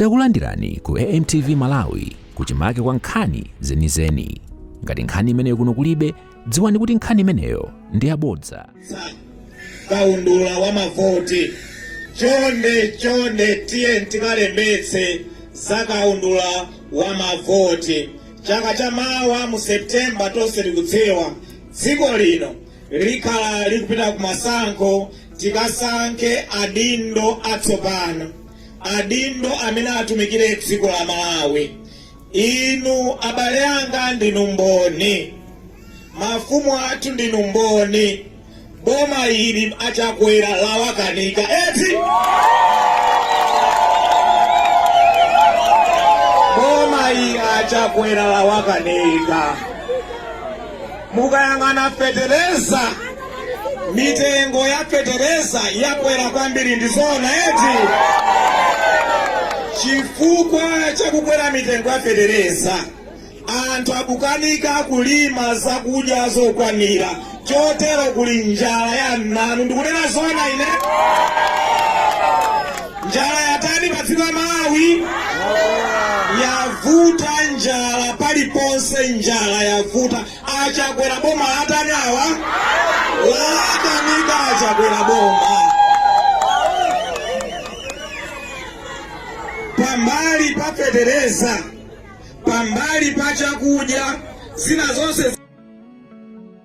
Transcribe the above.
Takulandirani ku AMTV Malawi kuchimake kwa nkhani zenizeni. Ngati nkhani imeneyo kuno kulibe, dziwani kuti nkhani imeneyo ndi yabodza. kaundula wa mavoti chonde chonde tiye tikalembetse za kaundula wa mavoti chaka cha mawa mu septemba tonse tikudziwa dziko lino likhala likupita ku masankho tikasankhe adindo atsopano adindo amene atumikire dziko la Malawi, inu abale anga ndinu mboni, mafumu athu ndinu mboni, boma ili a Chakwera lawakanika eti boma ili achakwera lawakanika Mukayang'ana fetereza, mitengo ya fetereza yakwera kwambiri, ndizoona eti? Chifukwa cha kukwera mitengo ya fetereza, anthu akukanika kulima zakudya zokwanira, chotero kuli njala ya mnanu. Ndikunena zoona ine? Njala yatani pa dziko la Malawi? Yavuta njala paliponse, njala yavuta. A Chakwera boma latani awa? Lawakanika a Chakwera boma. Pambali pa fetereza, pambali pa chakudya, zina zonse